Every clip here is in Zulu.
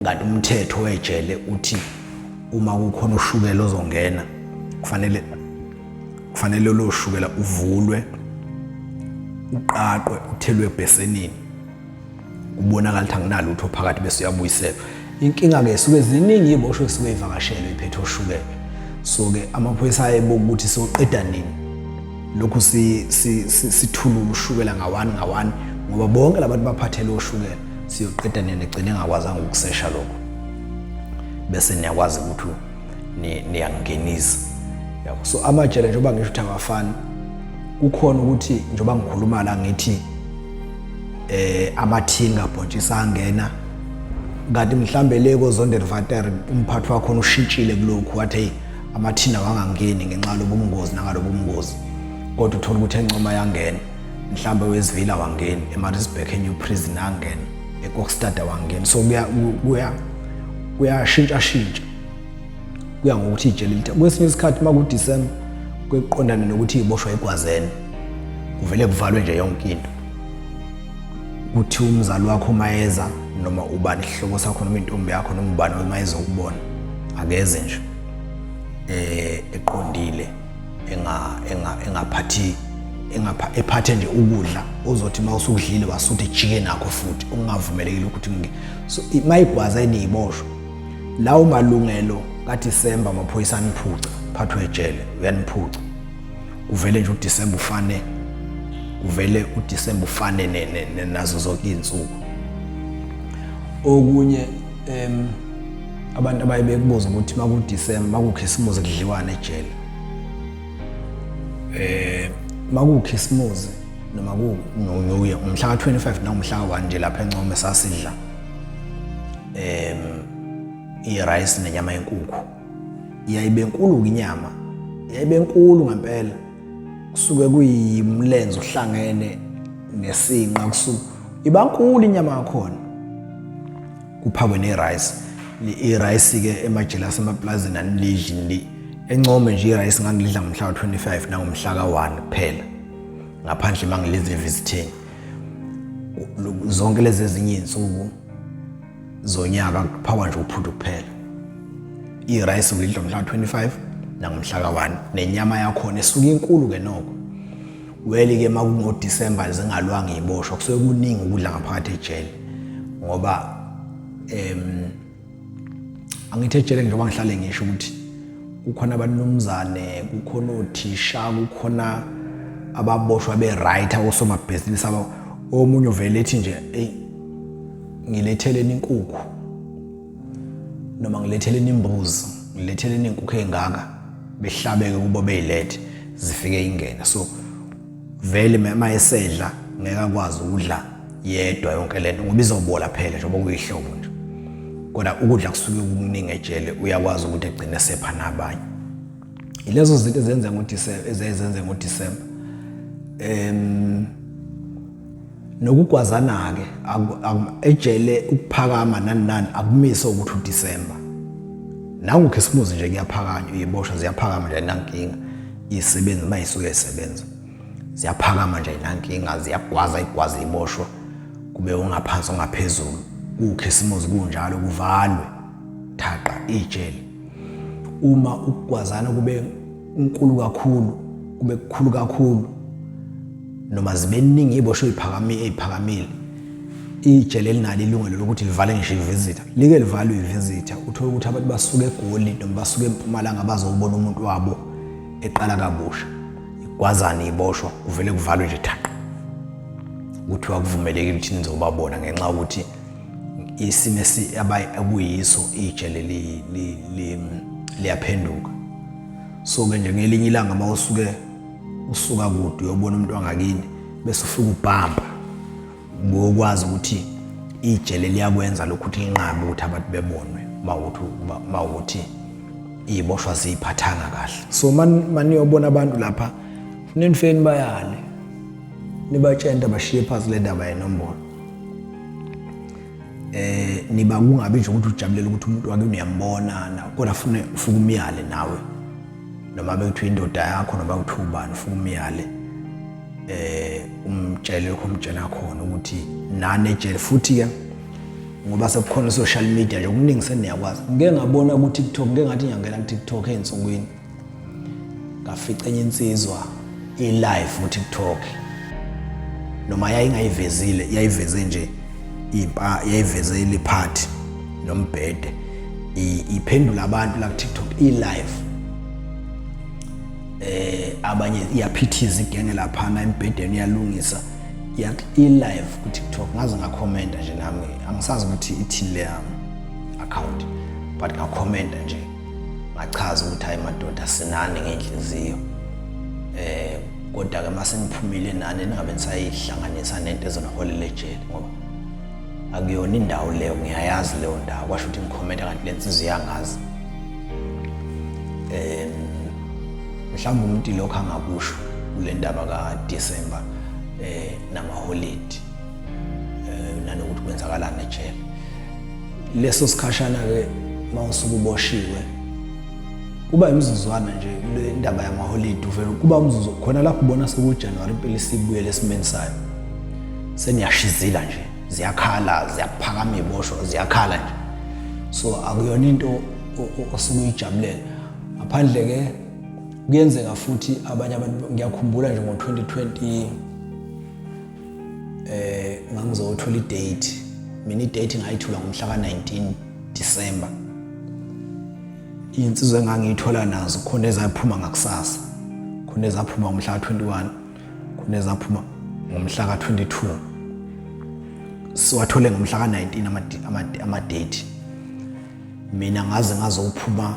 kanti umthetho wejele uthi uma kukhona ushukela ozongena kufanele kufanele lo shukela uvulwe uqaqwe uthelwe ebhesenini kubonakala ukuthi anginalutho phakathi bese uyabuyiselwa inkinga-ke suke ziningi iy'boshwe kusuke ivakashelwe iphethe oshukela so-ke amaphoyisa ayebo ukuthi soqeda nini lokhu sithulula ushukela ngawani ngawani ngoba bonke labantu baphathele oshukela siyoqeda nina gcine ngakwazanga ukusesha lokho bese niyakwazi ukuthi niyangingenisa yabo so amajele njengoba ngisho ukuthi awafani kukhona ukuthi njengoba ngikhuluma la ngithi eh amathinga bhontshisa angena kanti mhlambe le kozondel vater umphathi wakho ushintshile kulokhu wathi hey amathina wangangeni ngenxa lobungozi nangalobu bungozi kodwa uthola ukuthi encoma yangena mhlambe wesivila wangeni emarisburg enew prison angena ekokstad wangeni so kuya kuyashintsha shintsha kuya ngokuthi ijele lithe kwesinye isikhathi uma kudisemba kuqondane nokuthi iboshwa egwazeni kuvele kuvalwe nje yonke into kuthi umzali wakho uma eza noma ubani isihlobo sakho noma intombi yakho noma ubani uma ezokubona akeze nje eh eqondile engaphathi engapha ephathe nje ukudla ozothi uma usukudlile wasuthi ejike nakho futhi ungavumelekile ukuthi ngi so mayigwaza eniyiboshwa lawo malungelo kaDisemba amaphoyisa aniphuca phathwe ejele uyaniphuca uvele nje uDisemba ufane uvele uDisemba ufane nazo zonke izinsuku okunye em abantu abaye bekubuza ukuthi makudisemba makukhisimuzi kudliwane ejele eh makukhisimuzi noma kunoyuye umhla ka-25 nangumhla ka-1 nje lapha encome sasidla em i-rice nenyama yenkukhu yayibe nkulu-ke inyama yayibe nkulu ngempela kusuke kuyimlenze uhlangene nesinqa kusuke iba nkulu inyama yakhona kuphakwe ne-rice i-rice-ke emajele asemapulazini anilidli nili encome nje i-rice ngangilidla ngomhla wa-25 nangomhla ka-1 kuphela ngaphandle uma ngilidla evisitheni zonke lezi ezinye iy'nsuku zonyaka kuphakwa nje uphuthu kuphela i-rice ulidla ngomhla wa-25 nangomhla ka-1 nenyama yakhona esuke inkulu-ke noko Weli ke makungo December zingalwanga iboshwa kusuke kuningi ukudla ngaphakathi ejele ngoba em angithi ejele njengoba ngihlale ngisho ukuthi kukhona abanumzane kukhona othisha kukhona ababoshwa be right akosomabhizinisi aba omunye uvele ethi nje hey ngilethele inkukhu noma ngiletheleni imbuzi ngiletheleni inkukhu engaka behlabeke kubo beyilethe zifike ingene so vele mama esedla ngeke akwazi ukudla yedwa yonke lento ngoba izobola phela njengoba kuyihlobo nje kodwa ukudla kusuke kukuningi ejele uyakwazi ukuthi egcine sepha nabanye ilezo zinto ezenza ngo-December ezenza ngo-December em nokugwazana-ke ejele ukuphakama nani nani akumise ukuthi udisemba nangu khisimuzi nje kuyaphakanywa iyiboshwa ziyaphakama nje ayinankinga iyisebenzi uma isuke isebenza ziyaphakama nje ayinankinga ziyagwaza igwaza iyiboshwa kube ungaphansi ongaphezulu kukhisimuzi kunjalo kuvalwe thaqa ijele uma ukugwazana kube unkulu kakhulu kube kukhulu kakhulu noma zibeningi ibosho iphakamile iphakamile ijele linalo ilungelo lokuthi livale ngisho ivisita like livalwe ivisita uthole ukuthi abantu basuke egoli noma basuke empumalanga bazobona umuntu wabo eqala kabusha igwazana iboshwa kuvele kuvalwe nje thaqa kuthiwa kuvumelekile ukuthi nizobabona ngenxa yokuthi isimo abakuyiso itshe leli liyaphenduka so ke nje ngelinye ilanga uma usuke usuka kude uyobona umuntu wangakini bese ufika ubhamba bokwazi ukuthi itshe leliyakwenza lokhu ukuthi linqabe ukuthi abantu bebonwe mawuthi mawuthi iboshwa ziphathanga kahle so maniyobona abantu lapha ninifeni bayale nibatshente bashiye phansi le ndaba yenombolo eh niba kungabi nje ukuthi ujabulela ukuthi umuntu wake uyambona na kodwa fune ufuka umyale nawe noma bekuthiwa indoda yakho noma kuthiwa ubani ufuka umyale eh umtshele lokho umtshela khona ukuthi nane ejele futhi ke ngoba sekukhona social media nje okuningi seniyakwazi ngeke ngabona ku TikTok ngeke ngathi ngiyangena ku TikTok ensukwini ngafica enye insizwa i-live ku-tiktok noma yayingayivezile yayiveze nje impa yayiveze iliphathi nombhede iphendula abantu la ku-tiktok i-live eh abanye iyaphithiza igenge laphana embhedeni iyalungisa i-live ku-tiktok ngaze ngakhomenta nje nami angisazi ukuthi ithini le account but ngakhomenta nje ngachaza ukuthi hayi madoda sinani ngenhliziyo eh kodwa ke mase niphumile nani ningabe nisayihlanganisa nento ezoniholela ejele ngoba akuyona indawo leyo ngiyayazi leyo ndawo kwasho ukuthi ngikhomenta kanti le nsizwa iyangazi um mhlawumbe umuntu ilokhu angakusho kule ndaba ka-december um eh, namaholidi eh, nanokuthi kwenzakalani ejele leso sikhashana-ke uma usuke uboshiwe kuba imizuzwana nje le ndaba yamaholidi uvele kuba umzuzu khona lapho ubona sekujanuwari impela isibuyele esimeni sayo seniyashizila nje ziyakhala ziyaphakama iy'bosho ziyakhala nje so akuyona into osuke uyijabulela ngaphandle-ke kuyenzeka futhi abanye abantu ngiyakhumbula nje ngo-2020 eh ngangizothola idate mina idate ngayithola ngomhla ka-19 December iy'nsizwa engangiyithola nazo khona ezaphuma ngakusasa khona ezaphuma ngomhla ka-21 khona ezaphuma ngomhla ka-22 siwathole ngomhla ka-19 amadate mina ngaze ngazophuma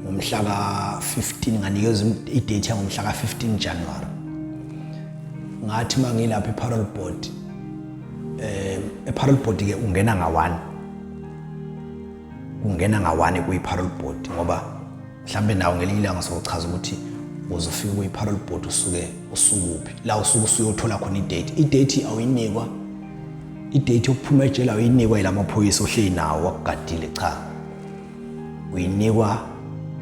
ngomhla ka-15 nganikezwa idate yangomhla ka-15 january ngathi uma ngilapha eparol board um eparol board-ke ungena nga-one ungena nga-one kwiparol board ngoba mhlawumbe nawo ngelinye ilanga sochaza ukuthi uzofika kuyi-parole board usuke usukuphi la usuke usuyothola khona idate idate awuyinikwa idate yokuphuma ejele awuyinikwa yila maphoyisa ohleli nawo wakugadile cha uyinikwa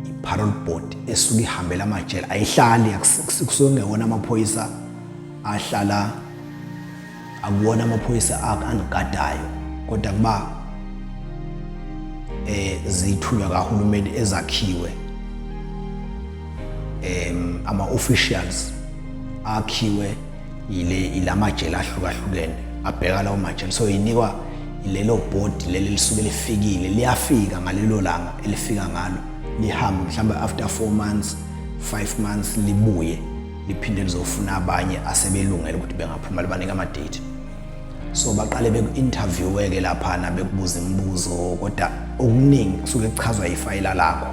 i-parole board esuke ihambela amajele ayihlali kusuke kungewona amaphoyisa ahlala akuwona amaphoyisa akho angigadayo kodwa kuba eh zithunywa kahulumeni ezakhiwe em ama officials akhiwe ile ilamajele ahlukahlukene abheka lawo majele so inikwa lelo body leli lisuke lifikile liyafika ngalelo langa elifika ngalo lihambe mhlawumbe after 4 months 5 months libuye liphinde lizofuna abanye asebelungele ukuthi bengaphuma libanika amadate so baqale beku-interviewe-ke laphana bekubuza imibuzo kodwa okuningi kusuke kuchazwa ifayila lakho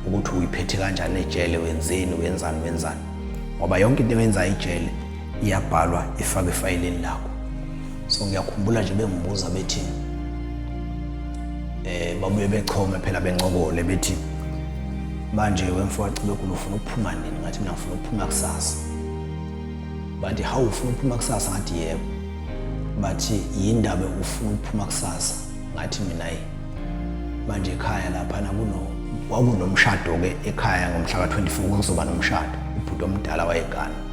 ukuthi uyiphethe kanjani ejele wenzeni wenzani wenzani ngoba yonke into eyenza ijele iyabhalwa ifake efayilini lakho so ngiyakhumbula nje bengibuza bethi eh babuye bechome phela bencokole bethi manje wemfowacibekulu ufuna ukuphuma nini ngathi mina ngifuna ukuphuma kusasa bathi hawu ufuna ukuphuma kusasa ngathi yebo bathi yindaba ufuna ukuphuma kusasa ngathi mina yi manje ekhaya laphana kuno kwakunomshado-ke ekhaya ngomhla ka-24 kuzoba nomshado ubhuti omdala wayegana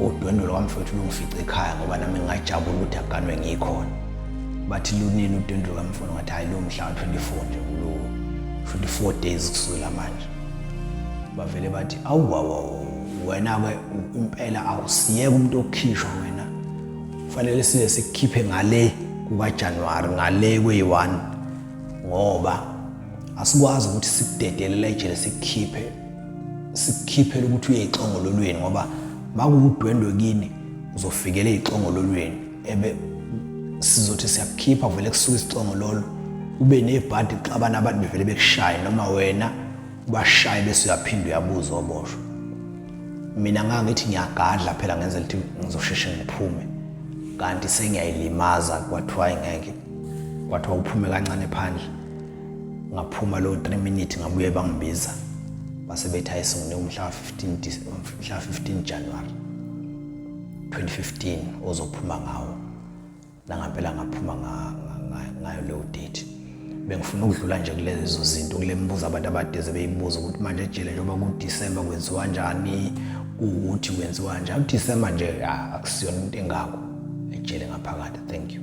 Udwendwe lwami mfowethu lungifice ekhaya ngoba nami ngingajabula ukuthi aganwe ngikhona. Bathi lunini udwendwe lwami mfowethu ngathi hayi lo mhla 24 nje kulo. Futhi 4 days kusukela manje. Bavele bathi awu wawu wena ke impela awusiyeke umuntu okhishwa wena. Kufanele size sikukhiphe ngale kuka January ngale kweyi-1 ngoba asikwazi ukuthi sikudedelele ejele sikukhiphe sikukhiphela ukuthi uye exongololweni ngoba makuwudwendwe kini uzofikela exongololweni ebe sizothi siyakukhipha vele kusuka isixongololo ube nebhadi xabana abantu bevele bekushaye noma wena ubashaye bese uyaphinde uyabuza oboshwa mina ngangithi ngiyagadla phela ngenzela ukuthi ngizosheshe ngiphume kanti sengiyayilimaza kwathiwa ingeke kwathiwa uphume kancane phandle ngaphuma lowo 3 minute ngabuye bangibiza base bethi ayisungule umhla 15 mhla 15 January 2015 ozophuma ngawo nangampela ngaphuma ngayo leyo date bengifuna ukudlula nje kulezo zinto kule mibuzo abantu abadeze beyibuza ukuthi manje ejele njengoba kuDecember kwenziwa kanjani ukuthi kwenziwa kanjani uDecember nje akusiyona into engako ejele ngaphakathi thank you